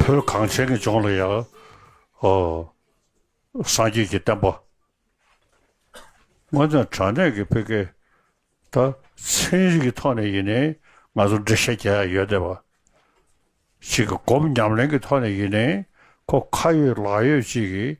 བོད་གངས་ཅན་གྱི་ལྗོངས་ལ་ཡང། སངས་རྒྱས་ཀྱི་བསྟན་པ། དངོས་དོན་དྲང་གནས་ཀྱི་འཕེལ་སྐད། ད་ཚན་རིག་གི་ཐོག་ནས་ཡིན་ནའི་ང་ཚོར་འགྲེལ་བཤད་བརྒྱ་ཡང་ཡོད་བསྡད་པ། ཅིག་གི་སྒོམ་ཉམས་ལེན་གྱི་ཐོག་ནས་ཡིན་ནའི་ཁོ་ཁ་ཡོད་ལག་ཡོད་ཅིག་གིས་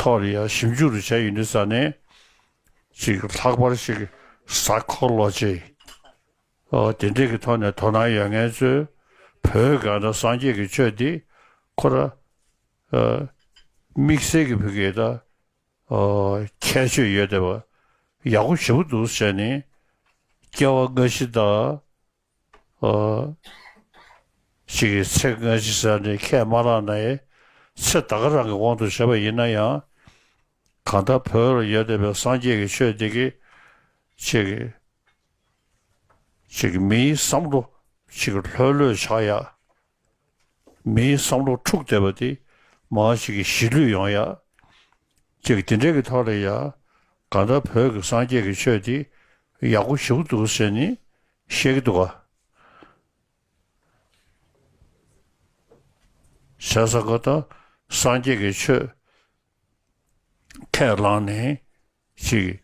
ཐོག་ལ་ཡང་ཞིབ་འཇུག་རེ་བྱ་ཡུལ་ནི་ས་གནས་ཤིག་ལྷག་པར་ཞིག་གཟའ་འཁོར་ལོ་རྗེ་དེ་འདྲས་ཀྱི་ཐོག་ནས་དོ་སྣང་ཡོད་ངེས་གཙོས་བོད་གངས་དང་སངས་རྒྱས་ཀྱི་ཆོས་འདི་ཁོ་ར་དམིགས་བསལ་གྱི་བོད་སྐད་དང་ཁྱད་ཆོས་ཡོད་བསྡད་པ་ཡག་པོ་ཞེ་པོ་འདུག་ཟེར་ནས་སྐྱེ་བ་སྔ་ཕྱི་དང་ཞིག་གི་ཚེ་སྔ་ཕྱི་ས་ནི་ཁས་མ་བླངས་ནའི་ཚེ་བདག་གི་རང་གི་དབང་དུ་བྱས་པ་ཡིན་ན་ཡང། གང་ལྟར་བོད་ལ་ཡོད་བསྡད་པའི་སངས་རྒྱས་ཀྱི་ཆོས་འདི་གི་ཅིག། ཅིག་མིའི་བསམ་བློ་ཅིག་ལྷོད་ལྷོད་ཆགས་ཡག་མིའི་བསམ་བློ་འཁྲུག་བསྡད་པ་འདི་མཱ་ཞིག་གི་གཞིས་ལུས་ཡོང་ཡ། ཅིག་འདི་འདྲས་ཀྱི་ཐོག་ལས་ཡ། དགའ་མདའ་བོད་ཀྱི་སངས་རྒྱས་ཀྱི་ཆོས་འདི་ཡག་པོ་ཞུགས་འདུག་ཟེར་ནི་བཤད་ཀྱི་འདུག་ག། ཟེར་ས་དགའ་མདའ་སངས་རྒྱས་ཀྱི་ཆོས་ཁས་བླངས་ནས་ཞིག།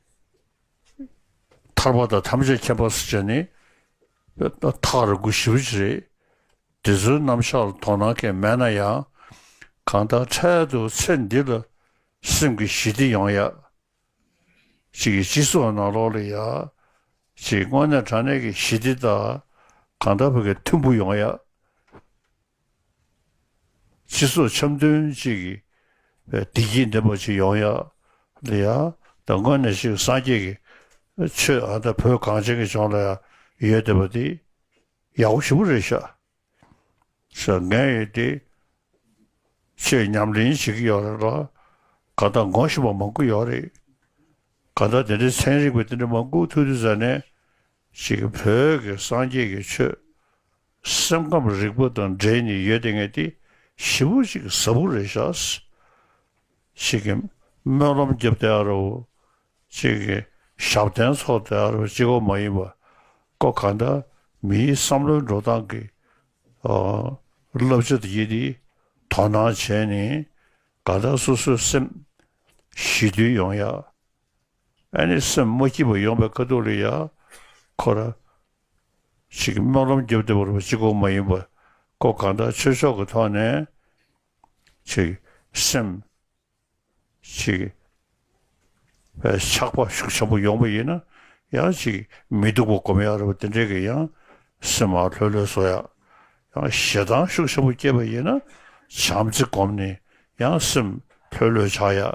ཐར་པ་དང་ཐམས་ཅད་མཁྱེན་པ་སྲིད་བྱ་ནི། ཐག་རིང་པོ་བཞི་བོ་ཅི་རེད། འདི་ཚོའི་རྣམ་གཞག་ལ་དོགས་སྣང་མཁན་མེད་ན་ཡང། གང་ལྟར་འཕྲལ་དུ་ཚེ་འདི་ལ་སེམས་ཀྱི་ཞི་བདེ་ཡོང་ཡག། ཅིག་སྤྱི་ཚོགས་ནང་ལོག་ལ་ཡག། ཅིག་དངོས་གནས་དྲང་གནས་ཀྱི་ཞི་བདེ་དང་གང་ལྟར་བོད་སྐད་མཐུན་པོ་ཡོང་ཡག། སྤྱི་ཚོགས་འཆམ་མཐུན་ཅིག་གི་བདེ་སྐྱིད་འདེམས་པ་ཅིག་ཡོང་ཡ། ལ་ཡ། དང་དངོས་གནས་ཤིག་སངས་རྒྱས་ཀྱི་ཆོས་ཨ་མདའ་བོད་གངས་ཅན་གྱི་ལྗོངས་ལ་ཡ་ཡོད་བསྡད་པ་དེ་ཡག་པོ་ཞིག་པོ་རེད་ཤག་ཤག་ངས་ཡོད་དེ་ཆོས་ཉམས་ལེན་བྱེད་ཀྱི་ཡོད་རེད་ལ་ག་མདའ་འགོང་བཞིན་པ་མང་དགུ་ཡོད་རེད་ག་མདའ་དེ་འདྲའི་ཚན་རིག་པ་དེ་འདྲ་མང་དགུ་ཐུག་དུས་ཟ་ནས་གཅིག་བོད་ཀྱི་སངས་རྒྱས་ཀྱི་ཆོས། སེམས་ཁམས་རིག་པ་དང་འབྲེལ་ནི་ཡོད་དེ་ངེས་ཏེ་བཞི་པོ་གཅིག་གཟབ་བོ་རེ་བཞག། གཅིག་གིས་སྨོན་ལམ་བརྒྱབ་སྟེ་ཨ་རོ། གཅིག་གིས་ཞབས་བརྟན་ཚོགས་ཏེ་ཨ་རོ་གཅིག་གོ་མ་ཡིན་པ་ཀོ་གང་འདྲ་མིའི་བསམ་བློའི་འགྲོ་སྟངས་ཀྱི་བསླབ་བྱ་དེ་ཡིན་ཏེ་དོ་སྣང་བྱས་ནས་གང་འདྲ་སོ་སོའི་སེམས། ཞི་དུལ་ཡོང་ཡག། ཨན་ནི་སེམས་མ་སྐྱིད་པ་ཡོང་པའི་དཀའ་སྡུག་ལས་ཡ་འཁོར་ར་ཞིག་གི་སྨོན་ལམ་རྒྱབ་བསྡད་པ་རུ་བ་གཅིག་གོ་མ་ཡིན་པ་ཀོ་གང་དག་ཆོས་ཕྱོགས་ཀྱི་ཐོག་ནས་ཆིག་སེམས་ཆིག་པའི་ཆགས་པ་ཤུགས་ཆེན་པོ་ཡོང་པ་ཡིན་ན་ཡ་ཅིག་མི་སྡུག་པ་གོ་མ་ཡ་རུ་བ་དེ་འདྲས་ཀྱི་ཡང་སེམས་མ་ལྷོད་ལྷོད་བཟོ་ཡ་ཡང་ཞེ་སྡང་ཤུགས་ཆེན་པོ་སྐྱེས་པ་ཡིན་ན་བྱམས་བརྩེ་སྒོམ་ནས་ཡང་སེམས་ལྷོད་ལྷོད་ཆགས་ཡ་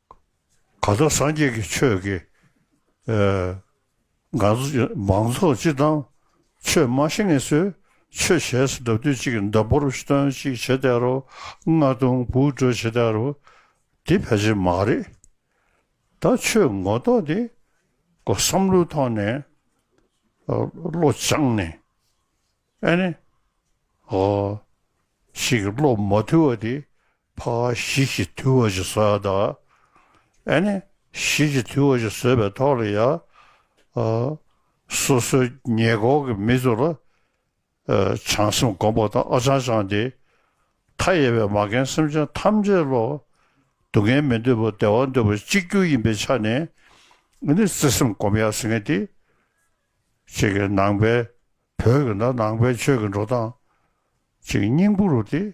གང་ལྟར་སངས་རྒྱས་ཀྱི་ཆོས་ཀྱི། མང་ཚོགས་སྤྱི་བཏང་ཆོས་སྨྲ་ཤེས་ངེས་ཚོས་ཆོས་བྱས་སུ་འདབ་དུས་གཅིག་འདབ་བོར་བཏོན་གཅིག་བྱེད་དེ་རུ་རྔ་རྡུང་བུག་དྲོད་བྱེད་དེ་རུ་འདི་ཕལ་ཆེར་མ་རེད་ད་ཆོས་ངོ་རྟོགས་དེ་ཀོ་བསམ་བློའི་ཐོག་ནས་བློ་སྦྱངས་ནས་ཨ་ནི་ཞིག་བློ་མ་ཐུལ་བ་དེ་བྷ་ག་བཞི་གཅིག་དུས་བ་ཅིག་ཟོས་དང། ཨེ་ནས་བཞི་གཅིག་དུས་བ་ཅིག་ཟོས་པའི་ཐོག་ལ་ཡང། སོ་སོའི་ཉེ་འཁོར་གྱི་མི་ཚོ་ལ། བྱང་སེམས་སྒོམ་པ་དང་ཨ་ཅང་ཅང་སྟེ། མཐའ་ཡས་པའི་མ་རྒན་སེམས་ཅན་ཐམས་ཅད་བློ། སྡུག་བསྔལ་མི་འདོད་པ་བདེ་བ་འདོད་པ་གཅིག་གྱུར་ཡིན་པའི་ཆ་ནས། ཨེ་ནས་བརྩེ་སེམས་སྒོམ་ཡག་ཟེར་མཁན་དེ། གཅིག་གི་ནང་པའི་བོད་ཀྱི་ནང་པའི་ཆོས་ཀྱི་འགྲོ་སྟངས། གཅིག་སྙིང་པོ་རུ་དེ།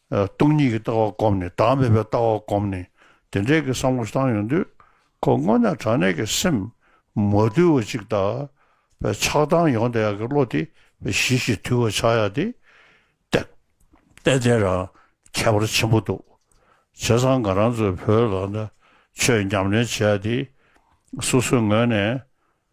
སྟོང་ཉིད་ཀྱི་ལྟ་བ་བསྒོམས་ནས་བདག་མེད་པའི་ལྟ་བ་བསྒོམས་ནས་དེ་འདྲའི་གི་བསམ་བློ་བཏང་ཡོང་དུས་ཁོ་སྔོ་ན་དྲག་ནད་ཀྱི་སེམས་མ་དུལ་བ་ཅིག་དག་པའི་ཆགས་སྡང་ཡོང་བསྡད་ཡག་གི་བློ་དེ་བས་ཞི་ཞིང་དུལ་བ་ཆགས་ཡག་དེ། བསྟན་འཛིན་རང་ཁྱད་པར་ཆེན་པོ་འདུག་བྱས་ཙང་ང་རང་ཚོའི་བོད་ལ་ཆོས་ཉམས་ལེན་བྱས་ཏེ་སོ་སོའི་ངོས་ནས་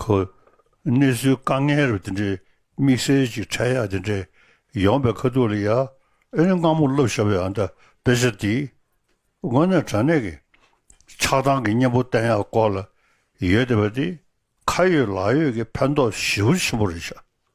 ཁོ། གནས་ཚུལ་དཀའ་ངལ་རབ་དེ་འདྲའི་དམིགས་བསལ་གྱི་འཕྲལ་ཡག་དེ་འདྲའི་ཡོང་པའི་ཁ་ཐུག་ལ་ཡ་ཨེ་རེ་སྔ་མོ་ལབ་ཤོར་བའི་ཨ་མདའ་དཔེ་ཆ་འདི། དངོས་གནས་དྲ་གནས་ཀྱི་ཆགས་སྡང་གི་གཉེན་པོ་བསྟན་ཡག་སྐོར་ལ་ཡོད་བསྡད་པ་འདི། ཁ་ཡོད་ལག་ཡོད་ཀྱི་ཕན་ཐོགས་ཞི་བོ་ཆེན་པོ་རེད་ཤག།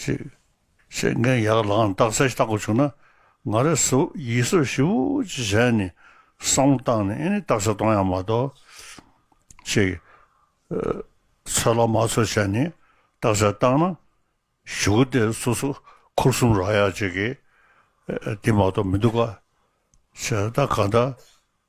ཅེས་བཤད་མཁན་ཡག་ལགས་འདག་གསལ་བཏགས་དགོས་བྱུང་ན་ང་རེ་སུ་ཡིད་གཟོས་ཞིབ་བོ་ཅིག་བྱས་ནས་བསམ་བློ་བཏང་ནས་ཨེ་ནི་འདག་གསལ་གཏོང་ཡག་མ་གཏོགས་ཅེས་ཚོད་ལ་མ་ཚོད་བྱས་ནས་འདག་གསལ་བཏང་ན་ཞུ་གི་དེ་སུ་སུ་ཁུར་གསུམ་རག་ཡག་བྱེད་གི་དེ་མ་གཏོགས་མི་འདུག་ག་བྱས་ད་ག་འདྲ་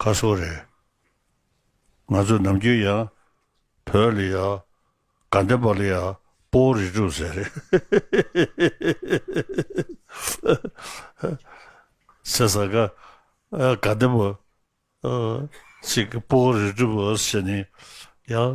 ཁ་སོ་རེད། ང་ཚོ་ནམ་རྒྱུན་ཡང་བོད་ལི་ཡ་དགའ་ལྡན་པ་ལི་ཡ་པོ་རི་ཀྲུག་ཟེར་རེད། ཟེར་ས་ཁ་དགའ་ལྡན་པ་ཅིག་པོ་རི་ཀྲུག་ཟེར་ནས་ཡང་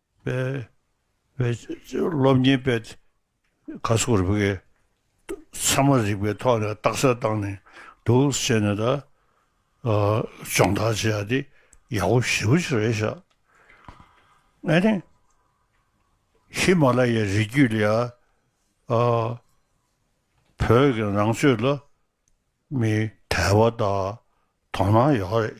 སློབ་གཉེར་པས་ཁ་སོ་རུ་བའི་ཚད་མ་རིག་པའི་ཐོག་ནས་རྟགས་གསལ་བཏང་ནས་འདུག་བྱས་ནས་ད་སྦྱོང་བརྡར་བྱེད་ཡ་དེ་ཡག་པོ་ཞེ་པོ་ཞིག་རེད་ཤག་ཨ་ནི། ཧི་མ་ལ་ཡའི་རི་རྒྱུད་ལ་ཡ་བོད་ཀྱི་ནང་ཆོས་ལ་མི་དལ་བ་དག་དོ་སྣང་ཡག་རེད་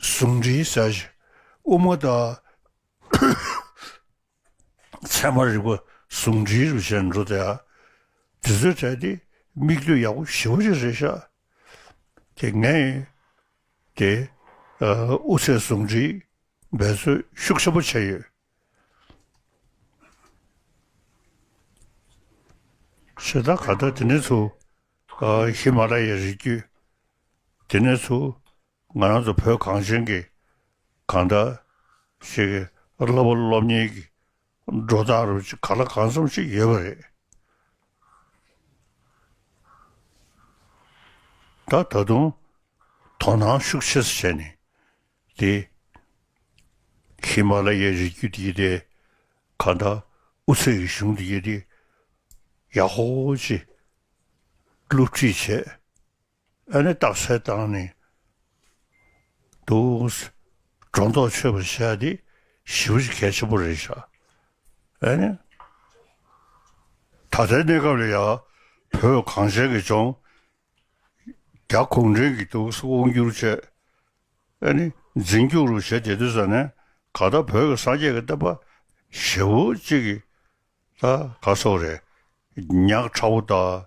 གཟུངས་འདྲིལ་བྱ་ཞིང་དབུ་མ་དང། མཚན་མ་རིག་པ་གཟུངས་འདྲིལ་རུ་བྱས་ནས་འགྲོ་དེ། དེ་ཚོའི་གྲས་དེ་མིག་ལྟོས་ཡག་པོ་ཞིབ་རེ་རེ་བཞག་དེ་ངས་ཡིན་ཏེ། དབུ་ཚད་གཟུངས་འདྲིལ་འབད་རྩོལ་ཤུགས་ཆེན་པོ་བྱས་ཡོད། ཞེ་སྡང་ག་ད་དེ་ནས་ཚུར་ཧི་མ་ལ་ཡའི་རི་རྒྱུད། དེ་ནས་བཟུང་ང་རང་ཚོ་བོད་གངས་ཅན་གྱི་གང་འདྲ་ཞིག་གི་སློབ་བུ་སློབ་གཉེར་གྱི་འགྲོ་སྟངས་རུ་གཅིག་ག་ལ་གང་འཚམས་ཤིག་ཡོད་པ་རེད། ད་ད་དུང་དོ་སྣང་ཤུགས་ཆེ་ས་བྱས་ནས་དེ་ཧི་མ་ལ་ཡའི་རི་རྒྱུད་དེ་དེ་ག་འདྲ་ཨུ་ཚུགས་ཀྱི་གཞུང་དེ་ཡེ་དེ་ཡག་ཧོ་ཧོ་ཅིག་སློབ་ཁྲིད་བྱས། ཨ་ནི་རྟགས་གསལ་བཏང་ནི་འདུག། སྒྲོ་འདོགས་ཆོད་པར་བྱས་ཏེ་ཞིབ་བཤེར་གལ་ཆེན་པོ་རེ་བྱ། ཨ་ནི། ད་ལྟའི་གནས་སྐབས་ལ་ཡང་བོད་གངས་ཅན་གྱི་ལྗོངས། རྒྱ་གུང་ཁྲན་གྱི་འདུག་ས་དབང་བསྒྱུར་བཅས་ཨ་ནི་འཛིན་སྐྱོང་རུ་བྱེད་བདེ་འདོད་ས་ནས་ག་ལྟར་བོད་ཀྱི་སངས་རྒྱས་ཀྱི་བསྟན་པ་ཞེ་བོ་གཅིག་གི་ལ་ག་སོགས་རེ་བསྙགས་ཁྲ་བོ་དང།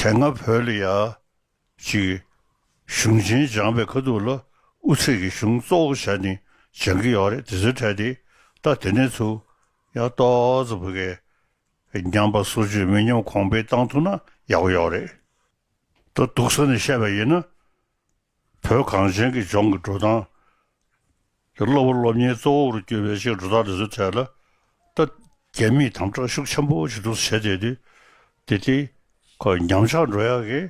དེ་སྔ་བོད་ལ་ཡ། གཅིག། གཞུང་ཆེན་སྦྱངས་པའི་ཁ་ཐུག་ལ་དབུ་ཚད་ཀྱི་གཞུང་གཙོ་བོ་ཞག་གཉིས་སྦྱང་གི་ཡོག་རེད་དེ་ཚོའི་གྲས་དེ་ལྟ་དེ་ནས་ཚུགས། ཡ། ཏོགཙྪ་བོད་སྐད། ཉམས་པ་སོ་བཅུ་མི་ཉམས་གོང་འཕེལ་བཏང་ཐུབ་ན་ཡག་པོ་ཡོག་རེད་དོ། སྡུག་ས་ནས་བཤད་པ་ཡིན་ན། བོད་གངས་ཅན་གྱི་ལྗོངས་ཀྱི་འགྲོ་སྟངས། ཀྱི་གློ་བུར་སློབ་གཉེར་གཙོ་བོར་གྱུར་པའི་ཕྱིར་འགྲོ་སྟངས་དེ་ཚོའི་ཐད་ལ། ད་རྒྱ་མིས་དམ་དྲག་ཤུགས་ཆེན་པོ་བྱེད་ཐུབ་ས་བྱས་བསྡད་དུས། དེ་དེ། ཁོའི་ཉམས་ཆག་འགྲོ་ཡག་གི།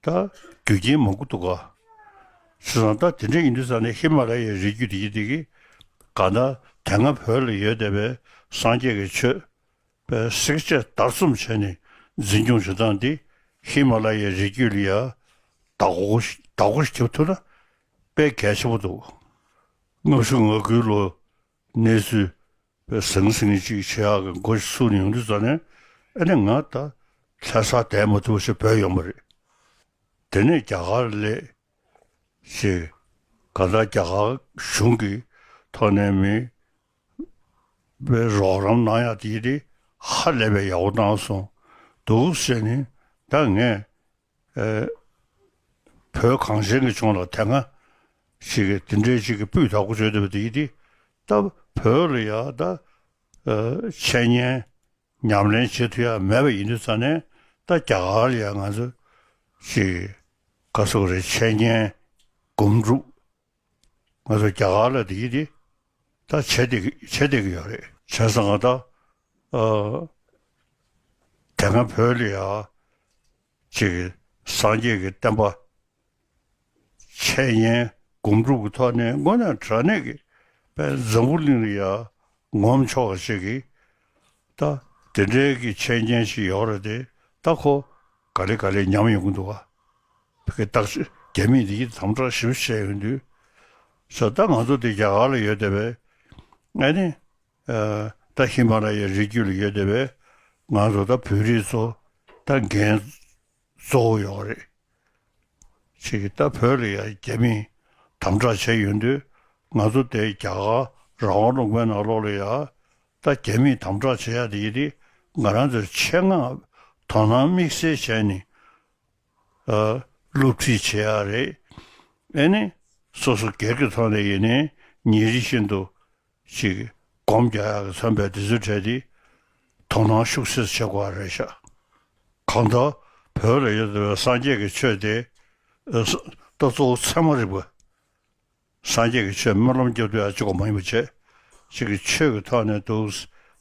ད། རྒྱུ་རྐྱེན་མང་པོ་འདུག་ག། ཆུ་བཟང་ད་དེ་འདྲས་ཡིན་དུས་ས་ནས་ཧི་མ་ལ་ཡའི་རི་རྒྱུད་དེ་གྱིས་དེ་གྱིས། གང་ལྟར་དེ་སྔ་བོད་ལ་ཡོད་བསྡད་པའི་སངས་རྒྱས་ཀྱི་ཆོས། པའི་སྲེག་བཅད་བརྡར་རྩོམ་བྱས་ནས་འཛིན་སྐྱོང་བྱེད་སྟངས་འདི་ཧི་མ་ལ་ཡའི་རི་རྒྱུད་ལ་ཡང་དྭགས་པོ་དྭགས་པོ་ཞིག་བྱེད་ཐུབ་ན་དཔེ་གལ་ཆེན་པོ་འདུག་སྔ་གཞུག་ང་དགུའི་ལོ་གནས་ཚུལ་པའི་ཟང་ཟིང་ཅིག་ཆེ་ཧག་གི་མགོ་ཞིག་ཚུགས་ནས་ཡོང་དུས་རྩ་ནས་ཨེ་ནས་ང་ད་ལྷས་ས་དད་མ་ཐུབ་ཞེས་བོས་ཡོང་པ་རེད། དེ་ནས་རྒྱ་གར་ལས་བྱེད་གང་དག་རྒྱ་གར་གཞུང་གི་ཐོག་ནས་མི་བའི་རོགས་རམ་གནང་ཡག་དེ་རེད་ཧ་ལས་པའི་ཡག་པོ་གནང་སོང་འདུག་བཤད་ནི་ད་ངས་བོད་གངས་ཅན་གྱི་ཆུང་ལ་དེ་སྔ་ཞིག་གི་དེ་འདྲའི་ཅིག་གི་སྤུས་དག་པོ་བརྗོད་འདོད་པ་དེ་རེད་ད་བོད་ལ་ཡང་ད་འཆད་ཉན་ཉམས་ལེན་བྱེད་ཐུ་ཡག་མེད་པ་ཡིན་དུས་ད་ནས་ད་རྒྱ་གར་ལ་ཡང་ང་ཚོ་ཅིག་ག་སོག་རེད་འཆད་ཉན་སྒོམ་སྒྲུབ་ང་ཚོ་རྒྱ་གར་ལ་འདི་འདི་ད་བྱེད་འདི་བྱེད་འདི་གི་ཡོད་རེད་བྱས་སོང་ང་ད་དེ་སྔ་བོད་ལ་ཡང་ཅིག་སངས་རྒྱས་ཀྱི་བསྟན་པ་འཆད་ཉན་སྒོམ་སྒྲུབ་ཀྱི་ཐོག་ནས་སྔོན་ལ་དྲ་གནས་ཀྱི་པས་འཛམ་བུ་གླིང་ལ་ཡང་ངོམ་ཆོག་གི་ཅིག་གི་ད་དེ་འདྲའི་ཀྱི་འཆད་ཉན་ཞིག་ཡོད་རེད་དེ་ད་ཁོ་ག་ལེ་ག་ལེ་ཉམས་ཡོང་གི་འདུག་ག། བོད་ཀྱི་རྟགས་ཆོས་རྒྱ་མིས་འདི་ཡིན་དམ་བསྒྲགས་ཞིབ་བཤེར་བྱས་ཡོང་དུས། ཚོད་ལྟ་ང་ཚོ་འདི་རྒྱ་གར་ལ་ཡོད་བསྡད་པས། ཨ་ནི། ད་ཧི་མ་ར་ཡའི་རི་རྒྱུད་ལ་ཡོད་བསྡད་པས། ང་ཚོ་ད་བོད་རིགས་ཚོ་ད་འགན་གཙོ་བོ་ཡོད་རེད། ཁྱེད་ཀྱིས་ད་བོད་ལ་ཡང་རྒྱ་མིས་དམ་བསྒྲགས་བྱས་ཡོང་དུས། ང་ཚོ་ད་རྒྱ་གར་རང་དབང་ལུང་པའི་ནང་ལོགས་ལ་ཡང་ད་རྒྱ་མིས་དམ་དྲག་བྱེད་ཡག་དེ་ཡི་རེད་ང་རང་ཚོས་ཆེད་མངགས་དོ་སྣང་དམིགས་བསལ་བྱས་ནས་སློབ་ཁྲིད་བྱེད་ཡག་རེད་ཨེ་ནི། སོ་སོ་སྒེར་གྱི་ཐོག་ནས་ཡིན་ནའི་ཉིན་རེ་བཞིན་དུ་ཅིག་སྒོམ་རྒྱག་ཡག་གི་མཚོན་པའི་དེ་ཚོའི་གྲས་དེ་དོ་སྣང་ཤུགས་སེར་བྱེད་དགོས་རེད་ཤག་གང་ལྟར་བོད་ལ་ཡོད་པའི་སངས་རྒྱས་ཀྱི་ཆོས་དེ་ད་གཙོ་བོ་ཚད་མ་རིག་པ། སངས་རྒྱས་ཀྱི་ཆོས་སྨོན་ལམ་སྐྱབས་བཅོལ་ཨ་ཅེ་སྒོ་མང་ཉིན་མོ་བྱེད། ཅིག་གི་ཆོས་ཀྱི་ཐོག་ནས་འདུག།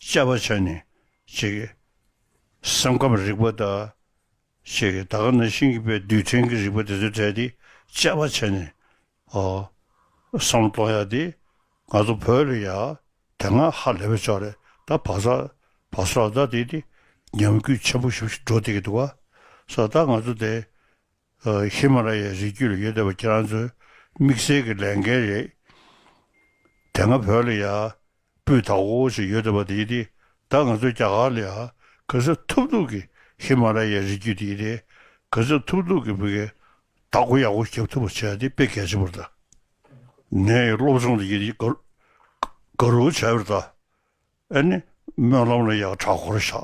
དཔྱད་པ་བྱ་ནི། ཅིག། སེམས་ཁམས་རིག་པ་བལྟ། ཅིག་གི་ད་ག་ན་ཤིང་གི་པའི་རྡུལ་ཕྲན་གྱི་རིག་པ་དེ་ཚོ་བྲལ་ཏེ་དཔྱད་པ་བྱ་ནི། ཨོ། བསམ་བློ་གཏོང་ཡག་འདི། ང་ཚོ་བོད་ལ་ཡག། དེ་སྔ་ཧ་ལས་པའི་ཕྱོགས་རེད་ད་བག་ས། བག་ས་ལ་ད་དེ་དེ། ཉམས་གུད་ཆེན་པོ་ཞིག་འགྲོ་སྡད་ཀྱི་འདུག་བ། ས་ད་ང་ཚོ་དེ། ཧི་མ་ལ་ཡའི་རི་རྒྱུད་ལ་ཡོད་བསྡད་པ་ཁྱེད་རང་ཚོའི་དམིགས་བསལ་གྱི་ལས་འགན་རེད། དེ་སྔ་བོད་ལ་ཡ། སྤུས་དག་པོ་ཞིག་ཡོད་བསྡད་པ་དེ་ཡིན་ཏེ་ད་ང་ཚོའི་རྒྱ་གར་ལ་ཡ། གུས་ཚབ་ཐུབ་ཐུབ་ཀྱི་ཧི་མ་ལ་ཡའི་རི་རྒྱུད་དེ་ཡིན་ཏེ་གུས་ཚབ་ཐུབ་ཐུབ་ཀྱི་བོད་དགེ་དག་གོ་ཡག་པོ་རྒྱབ་ཐུབ་པ་བྱས་ཏེ་དཔེ་གལ་ཆེན་པོར་བལྟ། ནས་ཡི་སློབ་སྦྱོང་དེ་ཡིན་ཏེ་དགའ། རོགས་བྱས་པར་བལྟ། ཨ་ནི་སྨོན་ལམ་ལ་ཡག་གྲྭ་འཁོར་བཞག་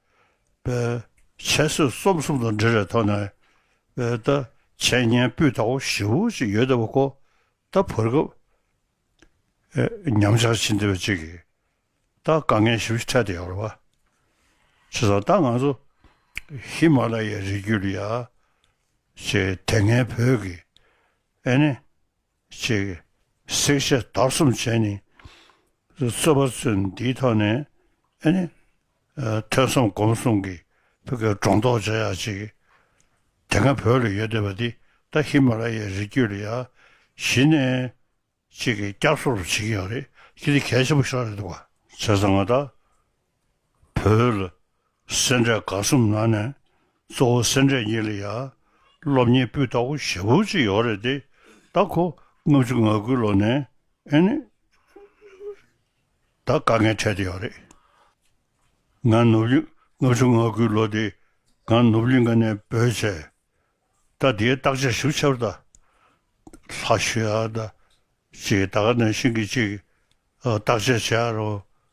བའི། འཆད་རྩོད་རྩོམ་གསུམ་དང་འབྲེལ་བའི་ཐོག་ནས། བའི། ད་བྱས་ཉན་སྤུས་དག་པོ་བཞི་བོ་ཅིག་ཡོད་བསྡད་པ་ཁོ། ད་བོར་སྐབས། ཨེ། ཉམས་ཆག་ཕྱིན་བསྡད་པ་ཅིག་གིས། ད་དཀའ་ངལ་བཞི་བོ་འཕྲད་བསྡད་ཡོད་རེད་པ། བྱས་ཙང་ད་ང་ཚོ། ཧི་མ་ལ་ཡའི་རི་རྒྱུད་ལ་ཡ། ཆེ། དེ་སྔའི་བོད་ཀྱི། ཨེ་ནི། ཅིག། བསྲེག་བྱ་བདག་གསུམ་བྱས་ནས། རྩོད་པ་ཚུལ་འདིའི་ཐོག་ནས། ཐོས་བསམ་སྒོམ་གསུམ་གྱི་བོད་ཀྱི་སྒྲོ་འདོགས་བཅད་ཡག་ཅིག། དེ་སྔ་བོད་ལ་ཡོད་སྡོད་པ་འདི་ད་ཧི་མ་ལ་ཡའི་རི་རྒྱུད་ལ་ཡ། གཞི་ནས། ཅིག་གིས་སྐྱབས་སོགས་རུ་བྱེད་ཀྱི་ཡོད་རེད། ཁྱེད་འདི་གལ་ཆེན་པོ་ཤོར་རེད་འདུག་ག། བྱས་ཙང་ང་ད་བོད་ལ་སེར་འབྲས་དགའ་གསུམ་ནང་ནས་གཙོ་བོ་སེར་འབྲས་གཉིས་ལ་ཡར་སློབ་གཉེར་སྤུས་དག་པོ་ཞེ་པོ་གཅིག་ཡོད་རེད་དེ་ད་ཁོ་ལྔ་བཅུ་ང་དགུའི་ལོ་ནས་ཨེ་ནས་ད་དཀའ་ངལ་འཕྲད་དེ་ཡོད་རེད། ང་ནུབ་གླིང་ལྔ་བཅུ་ང་དགུའི་ལོ་དེ་ང་ནུབ་གླིང་ག་ནས་བོད་བྱས་ད་དེའི་བརྟག་དཔྱད་ཞིབ་ཆ་ད་ལྷ་ཞུ་ཡ་ད་ཅིག་ད་ག་ནས་ཤིང་གི་ཅིག་བརྟག་དཔྱད་བྱས་ཡ་རོ་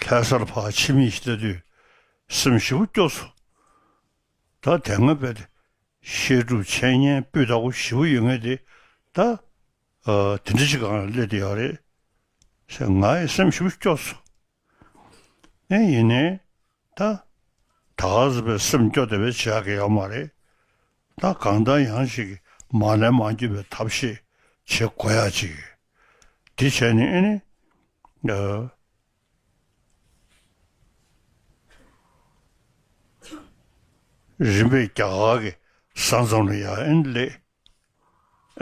ལྷའི་གསར་བག་ཕྱི་མིག་བལྟས་དུས་སེམས་བཞི་པོ་སྐྱོ་སོ། ད་དེ་སྔ་བས་ཏེ་བཤད་སྒྲུབ་འཆད་ཉན་སྤུས་དག་པོ་བཞི་པོ་ཡོད་ངེས་ཏེ་ད་དེ་འདྲ་ཞིག་གང་ལ་སླེབས་ཏེ་ཡོད་རེད། ཞེས་ངའི་སེམས་བཞི་པོ་སྐྱོ་སོ། ཨེ་ཡིན་ནའི། ད་ག་ཟེ་བའི་སེམས་སྐྱོ་དེ་བས་བྱས་ཀྱི་ཡོད་མ་རེད། ད་གང་ལྟར་ཡང་ཞིག་མ་ལན་མ་འགྱུར་བའི་ཐབས་ཤེས་བྱེད་དགོས་ཡ་ཅིག། དེ་བྱས་ནས་ཨེ་ནི། རིམ་པས་རྒྱ་གར་གྱི་ས་མཚམས་ལ་ཡང་ཨེ་ནི་སླེབས།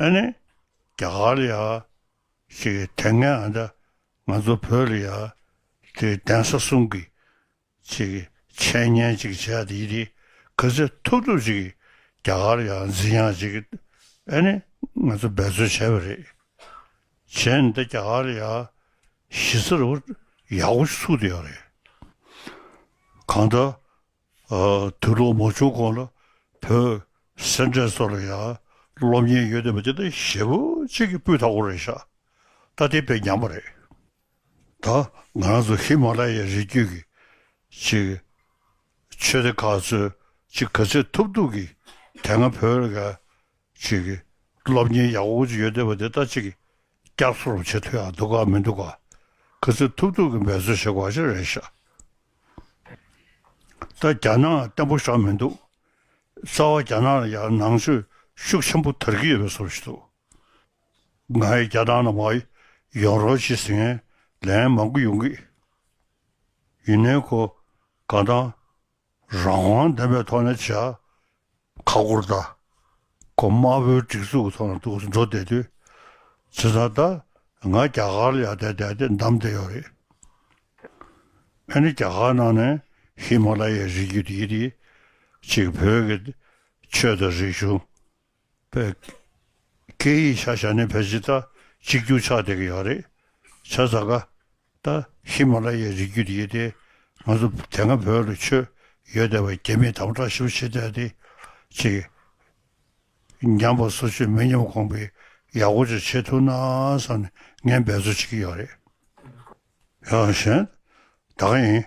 ཨེ་ནི། རྒྱ་གར་ལ་ཡང་ཞིག་དེ་སྔའི་ང་ཚོ་བོད་ལ་ཡང་དེ་གདན་ས་གསུམ་གྱི་ཅིག་འཆད་ཉན་ཅིག་བྱས་ཏེ་ཡི་རིགས་ག་ཚད་ཐུབ་ཐུབ་ཅིག་རྒྱ་གར་ཡང་འཛིན་ཡང་ཅིག་ཨེ་ནི་ང་ཚོ་འབད་རྩོལ་བྱས་པ་རེད། བྱས་ནི་ད་རྒྱ་གར་ཡ་གཞི་རྩ་རུ་ཡག་པོ་ཞིག་ཚུགས་ཏེ་ཡོད་རེད། གང་ལྟར་དུས་ལོ་མ་བྱུང་གོང་ལ་བོད་སེར་འབྲས་ཚོ་ལ་ཡ་སློབ་གཉེར་ཡོད་འདོད་པ་དེ་ད་ཞེ་བོ་གཅིག་གི་སྤུས་དག་པོ་རེད་ཤག་ད་དེ་དཔེ་ཉམས་པ་རེད། ད་ང་རང་ཚོ་ཧི་མ་ལ་ཡའི་རི་རྒྱུད་ཀྱི་ཆེད་ཆོས་སྡེ་ཁག་ཚོས་ཅི་ག་ཚད་ཐུབ་ཐུབ་ཀྱིས་དེ་སྔ་བོད་རིགས་ཀྱི་ཆེད་ཀྱི་སློབ་གཉེར་ཡག་པོ་ཅིག་ཡོད་བསྡད་པ་དེ་ད་ཅིག་བསྐྱར་གསོ་རུ་བྱེད་ཐུབ་ཡག་འདུག་ག་མི་འདུག་ག་ག་ཚད་ཐུབ་ཐུབ་ཀྱིས་འབད་བརྩོན་བྱེད་དགོས་པ་ཞིག་རེད་ཤག་ད་རྒྱ་ནག་བརྟན་པོ་ཞག་མི་འདུག་རྩ་བ་རྒྱ་ནག་ལ་ཡར་ནང་ཆོས་ཤུགས་ཆེན་པོ་དར་གྱི་ཡོད་པའི་བཟོ་བྱེད་འདུག་ང་ཡི་རྒྱ་སྟངས་ནང་མ་ཡོང་རོགས་ཞེས་ཟེར་མཁན་ལན་མང་པོ་ཡོང་གི་ཡིན་ནའི་ཁོ་དགའ་སྟངས་རང་དབང་ལྡན་པའི་ཐོག་ནས་བྱས། ཁ་བསྐོར་ད་ཁོ་དམར་པོའི་སྒྲིག་འཛུགས་ཀྱི་ཐོག་ནས་འདུག་འགྲོ་བསྡད་དུས་ཇི་ལྟར་ད་ང་རྒྱ་གར་ལ་ཡར་བསྡད་བསྡད་དེ་འདམ་བསྡད་ཡོད་རེད། ཨ་ནི་རྒྱ་གར་ནང་ནས་ཧི་མ་ལ་ཡའི་རི་རྒྱུད་འདི་འདི་གཅིག་བོད་ཀྱི་ཆོས་དང་རིག་གཞུང། པའི། སྐད་ཡིག་ཤ་ཤ་ནི་བོད་སྤྱི་ད་གཅིག་གྱུར་ཆགས་བསྡད་ཀྱི་ཡོད་རེད། བྱ་ཟ་ག། ད། ཧི་མ་ལ་ཡའི་རི་རྒྱུད་ཡིན་ཏེ། ང་ཚོ་དེ་སྔ་བོད་ལ་ཆོས་ཡོད་བསྡད་པ་རྒྱ་མིས་དམ་བསྒྲགས་ཞིབ་བྱེད་བསྡད་དེ། གཅིག། ཉམས་པ་སོ་ཆོས་མི་ཉམས་གོང་འཕེལ་ཡག་པོ་ཅིག་བྱེད་ཐུབ་ན་བསམ་ནས་ངས་འབད་རྩོལ་བྱེད་ཀྱི་ཡོད་རེད། ཡང་གཞན། ད་ག་ཡིན།